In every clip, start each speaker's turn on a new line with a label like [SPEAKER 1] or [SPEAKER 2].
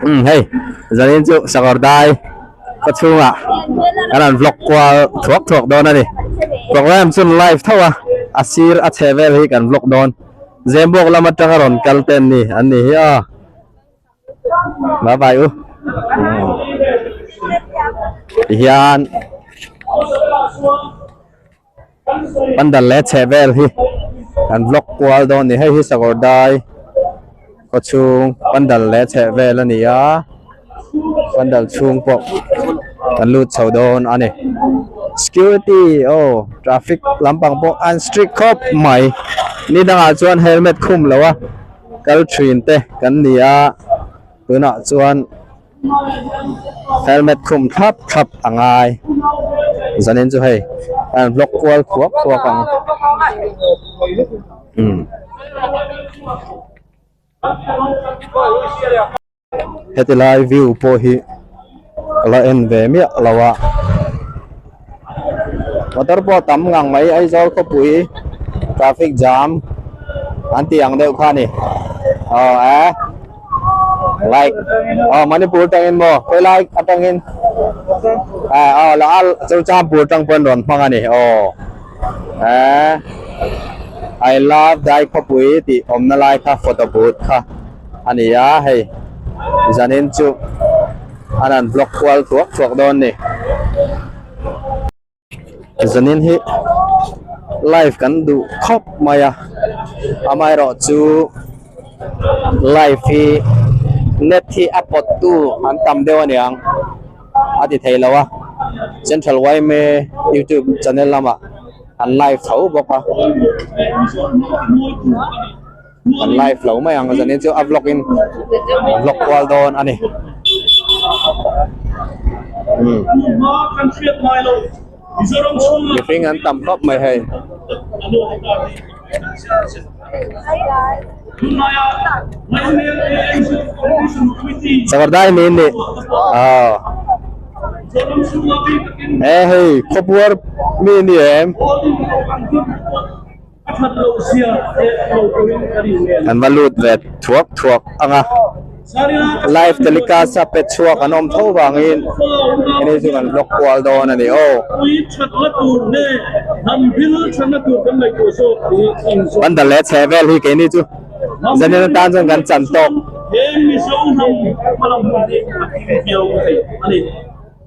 [SPEAKER 1] Umm hei zanin chu Sakawrdai khaw chhunga kan rawn vlog kual thuak thuak dawn a ni. Programme chu live tho a, a sir a chhe vel hi kan vlog dawn. Zembuak lam atanga rawn kal te an ni an ni hi a. Bye bye u. Tihian. pandal leh chheh vel hi kan vlog kual dawn a ni hei hi sakhawrdai khaw chhung pandal leh chheh vel a ni a pandal chhung pawh kan lut chho dawn a ni security oh traffic lampang pawh an strict khawp mai ni dangah chuan helmet khum lo a kal thin te kan ni a tunah chuan-- Helmet khum thlap thlap a ngai. Zanin chu hei a rawn block kual khuap khuap ang. Umm. Heti lai view pawh hi a la en ve miah lo a. motor pawh tam ngang mai Aizawl khawpui traffic jam an ti ang deuh kha ni oh a like oh manipur tangin mo koi like atangin a oh la al churchampur tang pawh an rawn hmang a ni oh a i love dai khawpui tih awmna lai kha photo but kha A ni a, hei zanin chu an han block kual chhuak chhuak dawn ni. Zanin hi live kan duh khawp mai a, amaherawh chu live hi net hi a pawt tu an tam deuh a niang a ti thei lo a, Central Yme YouTube channel lamah an live tho bawk a. An live lo mai ang zan in chu a vlog in an vlog kual dawn a ni. Hmm. Mihring an tam khawp mai hei. Sakawrdai niin ni. Oh. Eh hei, khaw puar mi ni em. An va lut ve thuak thuak ang a, live telecast a pe chhuak an awm tho vangin heni chu kan block kual dawn a ni aw. Bandal leh chhe vel hi keini chu zanin atan chuan kan chan tawk.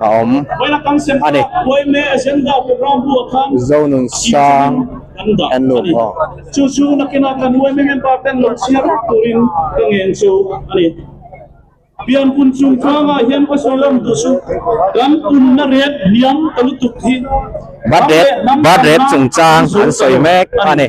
[SPEAKER 1] a awm a ni. Zonun sang kan luh maw? Birth date chungchang an sawi mek a ni.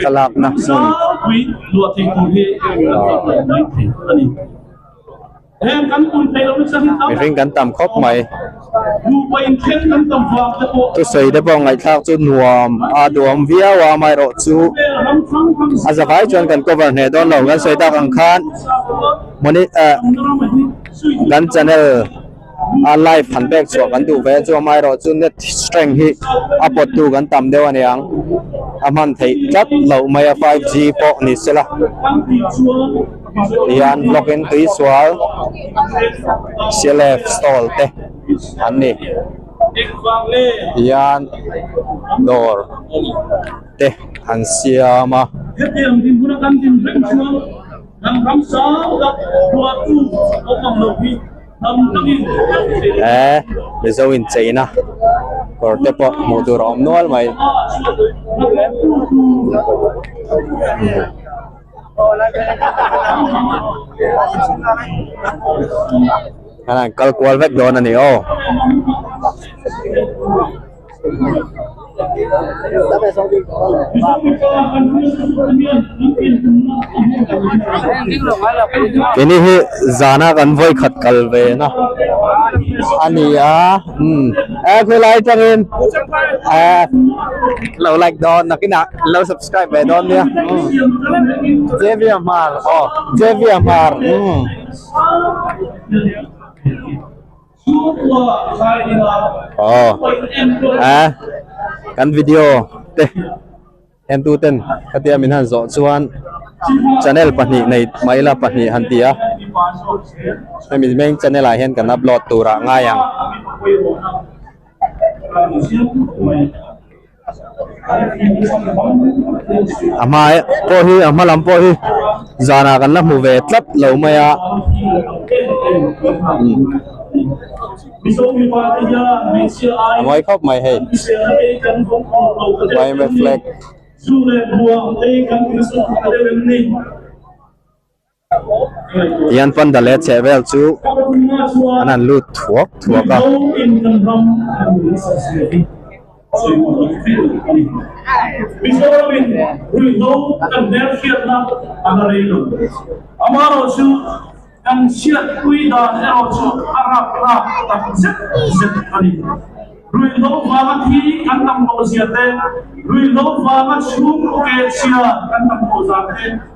[SPEAKER 1] thlalakna hmun mihring kan tam khawp mai thusawi pawh ngaihthlak chu nuam a duam viau a amaherawh chu a za vai chuan kan cover hneh dawn lo kan sawi tak ang khan moni ah kan channel -- a live han bek chhuah kan duh ve a chuan amaherawh chu net strength hi a pawt tu kan tam deuh aniang a hman theih tlat loh mai a five g pawh ni sela tihian log in tuisual clf stall te an ni tihian dawr te an siam a hetiang din huna kan din reng chuan ram ram sang tak ruah chu awm ang lo hi. eh mizo in chei na kawr te pawh hmuh tur a awm nual mai kal kual vek dawn a ni aw. Keini hi zana kan vawi khat kal ve na a ni a, umm a khawilai atangin ah lo like dawn nakinah lo subscribe ve dawn nia umm Javier Mar aw Javier Mar umm. Aw, ah, kan video te en tu ten ka tia min han zo chuan channel pahnih nei mai la pahnih han tia hemi main channel ah hian kan upload tura ngai ang a hmae pawh hi a hma lam pawh hi zan ah kan la hmu ve tlat lo mai a a mawi khawp mai hei climate flag. Ian panda leh chehvel chu an han lut thuak thuak a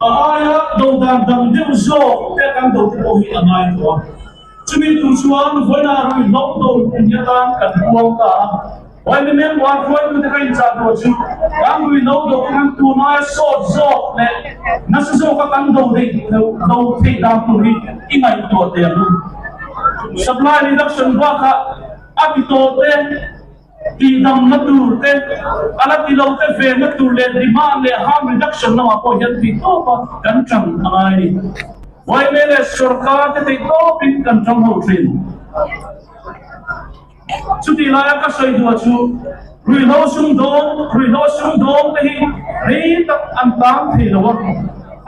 [SPEAKER 1] A aia dohdan dang deuh zawk te kan doh te pawh hi a ngai tawh a. Chumi tur chuan vawiinaa rawn inhlawm tawh luh ang hi atan kan buang ta a. Vaimimeng buai hruaitu te ka inchah tur chu kan lui lo doh hi kan tur ngaia sawt zawk leh nasa zawka kan doh daih duh loh lo theih dan tur hi i ngaihtuah theih ang. Supply reduction bakah a ti tawh te. Tihdanna turte, a la tilote vena tur leh demand leh harm reduction lamah pawh hian thei tawpa kan chang a ngai. Vawimei leh sorkar te thei tawpin kan chang ho thin. Chutih laia ka sawi duh chu ruihhlo sumdawng, ruihhlo sumdawng te hi rei tak an tang thei lo a,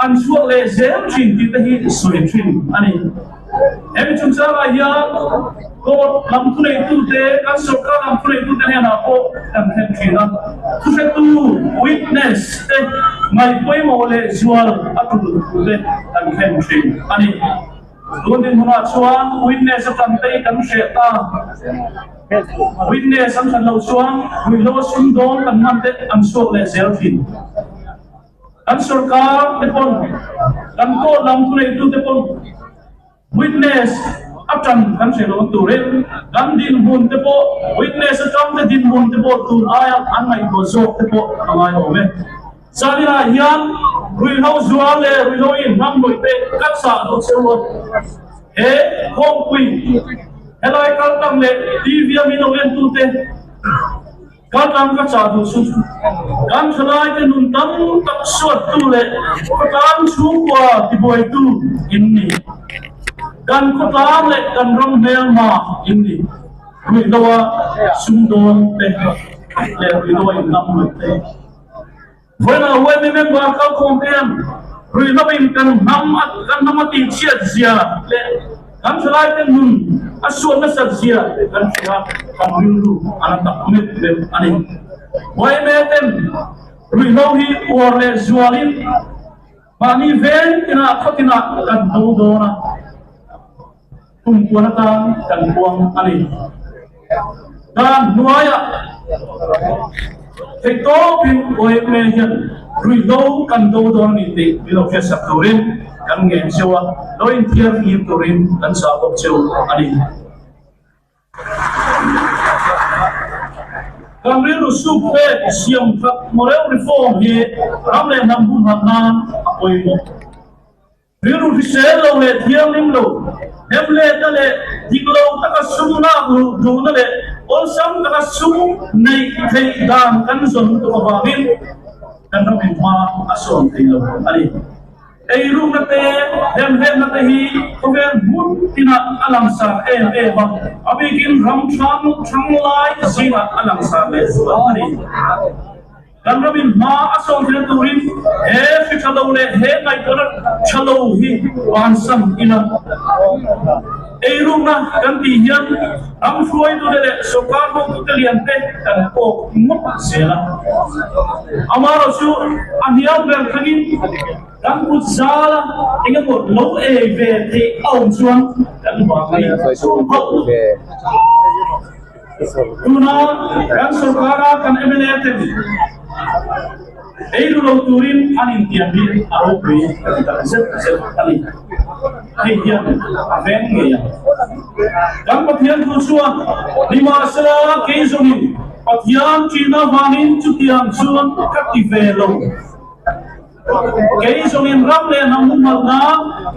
[SPEAKER 1] an chhuak leh zel thin tih te hi sawi thin a ni. Hemi chungchangah hian Court lam thuneitute kan sorkar lam thuneitute hnenah pawh kan thlen thin a, thuhretu, witness, te ngaih pawimawh leh zual a tul thur te kan thlen thin a ni. Tun dinhmunah chuan witness a tlangtei kan hriat ta. Witness an that lo chuan ruihhlo sum dawn kan hman te an suak leh zel thin. Kan sorkar te pawn, kan court lam khulei tu te pawn witness a tan kan hre lo tur in kan dinhmun te pawh witness atang te dinhmun te pawh tun aia an ngaihtuah zawk te pawh a ngai awm e. Chuanin ah hian ruihhlo zual leh ruihhlo inhmang nuih te kan sah lo cheu a. He khawngpui, helai kaltak leh TV a min awm em tu te, Khawtlang ka chah hnu chu kan thalaite nun tam tak suattu leh khawtlang chhungkua tibuaitu in ni. Kan khawtlang leh kan ram hmelmah in ni. Ruihdaw a sumdawn pek leh ruihdaw a inlam ruih te. Vawimah Huaimi member kalkhawm te hian rui hlauh in kan hnam kan hnam a tih chhiat zia leh kan thalai te nun a suat nasat zia te kan ti a kan rilru a la tak met met a ni. Huaime ten rui hlauh hi uar leh zual in mahni veng tinah khaw tinah kan hno dawn a. Pumpuan atang kan buang a ni. Dan hnuaiah hei tawpin OMA hian ruihhlo kan do dawn a ni tih min lo hriatsak turin kan ngen cheu a, lo inthiar fir turin kan chah bawk cheu a ni. Kan rilru suk pek siam tak mawreu reform hi ram leh hnam humhak nan a pawimawh. Rilru hrisel lo leh thianghlim lo, hnem lehna leh dik lo taka sum nghak luh duhna leh awlsam taka sum neih theih dan kan zawn tuk avangin kan ram inhma a sawn thei lo a ni. Ei rukna te, hnem lehna te hi khawvel hmun inah a langsar em em a, a bikin ram thlangnut thanglai zinah a langsar leh zual a ni. Kan revin hma a sawmhrilh turin he hri tha lo leh he ngaihtuahna tha lo hi van sam ila ei rukna kan tih hian ram hruaitute leh sawrkar bawmtute liante kan kawk ngawt zel a. Amaherawh chu a hnial ber thangin kan kut zal a engemaw lo ei ve theih a awm chuan kan vang a inchawm hauh lo. Tuna kan sorkara kan mla ten ei nulo turin an intiam hi a ropui ka ti tak zet zet a ni. Hei hian a veng ngei ang. Kan Pathian thu chuan nimahsela kei zawngin Pathian ṭihna vangin chutiang chuan ka ti ve lo. Kei zawngin ram leh hnam humhalhna,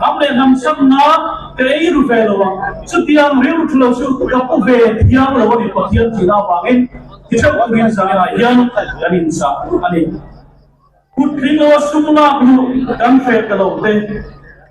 [SPEAKER 1] ram leh hnam sakna kei ru ve lo a, chutiang rilru lo chu ka pu ve thiang lo a ni Pathian tihna avangin ti theuh turin zaninah hian kan inchah a ni. Kut tling aw sum lak luh kan hreh ta lo te.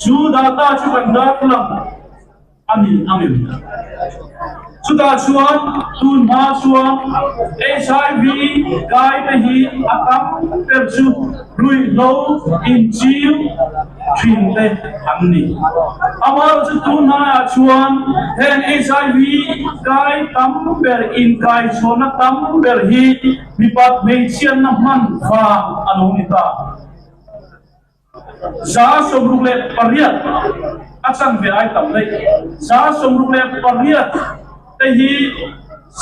[SPEAKER 1] Chu data chu kan darthlalang a ni a ni. Chutah chuan tunhma chuan HIV kaite hi a tam ber chu ruihhlo inchiu thin te an ni. Amaherawh chu tun hnaiah chuan heng HIV kai tam ber, inkaichhuahna tam ber hi mipat hmeichhianna hman vang a lo ni ta. Zaa sawmruk leh pariat a chanve ai tam daih. Zaa sawmruk leh pariat te hi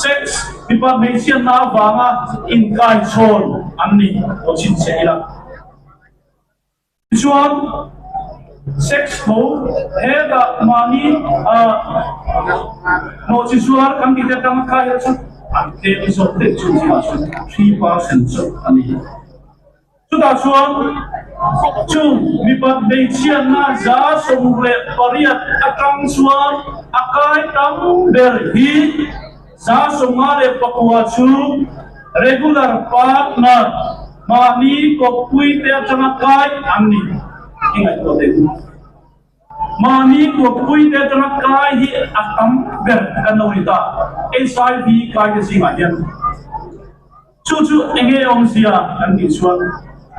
[SPEAKER 1] sex, mipa hmeichhia hna vang a inkaichhawn an ni tawh chin si ila. Tichuan, sex tho hetah mahni hnawhchhichhuar kan tih te tang kha hi chu an tlem zawk daih chu zia chu three percent zawk a ni. Chutah chuan fak chung mipa hmeichhianna za sawm leh pariat atang chuan a kai tam ber hi za sawmnga leh pakua chu regular partner mahni kawppuite atanga kai an ni tih i ngaihtuah theih bawk a. Mahni tuakpui te atanga kai hi a tam ber kan lo ni ta. HIV kai te zingah hian chu chu eng nge awm zia kan tih chuan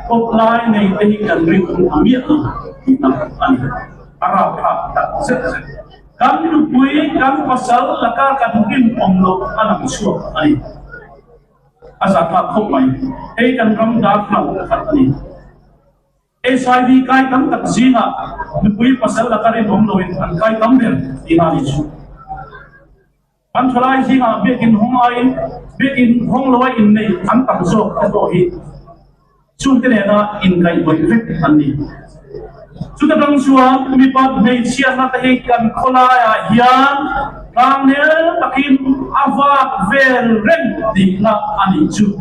[SPEAKER 1] kawp lai nei te hi kan ri tum ta miah lo tih na a ni. A rau phak tak zet zet. Kan nupui, kan pasal laka kan rinawm loh a lang chhuak a ni. A za nghal khawp mai. Hei kan ram darthlalang tak a ni. HIV kai tam tak zingah nupui pasal laka rin awm loin an kai tam ber tih a ni chu. Kan khawlai zingah biakinn hawng aiin biakinn hawng loa inneih tam tak zawk te pawh hi chungte nena inkaih bawih vek an ni. Chute tang chuan mipa hmeichhia hla te hi kan khawlaiah hian tlang nel takin a vak vel reng tihna a ni chu.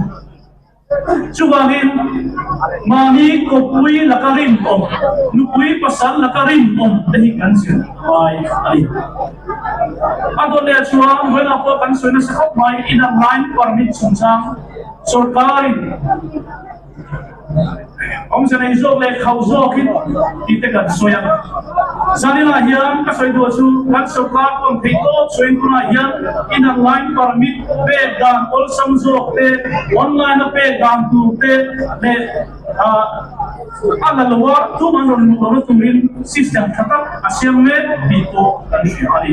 [SPEAKER 1] Chuvangin, mahni khawpui laka rinawm, nupui pasal laka rinawm te hi kan zir fai a ni. A dawn leh chuan ruihlak pawh kan sawi nasa khawp mai, inang lain permit chungchang sorkarin, Awmze nei zawk leh khauh zawkin tite kan sawi a, zaninah hian ka sawi duh chu kan sawrkar pawn theih tawp sawi tunah hian inang line permit pek dan awlsam zawk te, online a pek dan tur te leh ah a la lo a thum an rawn luh lo na turin system tha tak a siam mek tih pawh kan hria a ni.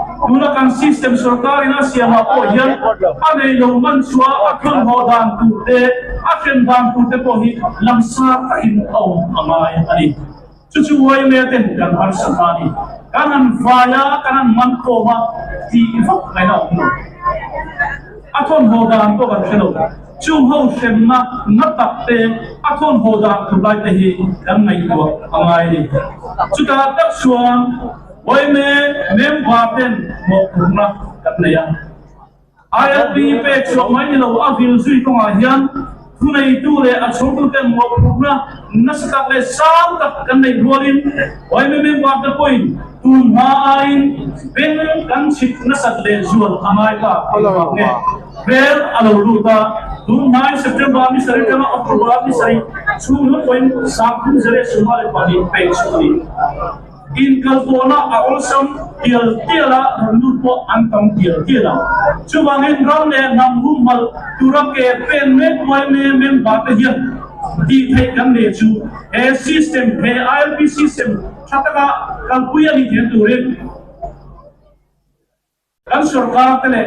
[SPEAKER 1] Tuna kan system sorkarin a siamah pawh hian a nei lo man chuan a thlun haw dan tur te, a hrem dan tur te pawh hi lam sar takin a awm a ngai a ni. Chu chu uaimea ten kan harsa hna a ni. Kan han vai a, kan han man khawm a ti vak mai a awm lo. A thlun haw dan pawh kan hre lo. Chung ho hremna na tak te, a thlun haw dan tur lai te hi kan ngaihtuah a ngai a ni. Chutah tak chuan. Vawiine mem var ten mawhphurhna kan nei a, ILP pek suah mai ni lo a vil zui kawngah hian thuneitu leh a chhungtu ten mawhphurhna nasa tak leh sang tak kan neih rualin Vawiine mem var te pawhin tun hma aiin beng kan chhit nasat leh zual a ngai ta tih ruak nge hmel a lo lut a, tun hmain September ni sarih atanga October ni sarih chhungnawm pawhin Sang Thum Zere sum a le pahnih pek suah a ni. Inkalpawhna a awlsam tial tial a, rawn lut pawh an tam tial tial a. Chuvangin ram leh hnam humhmalh tura ke pen mek Uaime member te hian tih theih kan nei chu he system, he ILP system tha taka kalpui a nih theih turin kan sorkar te leh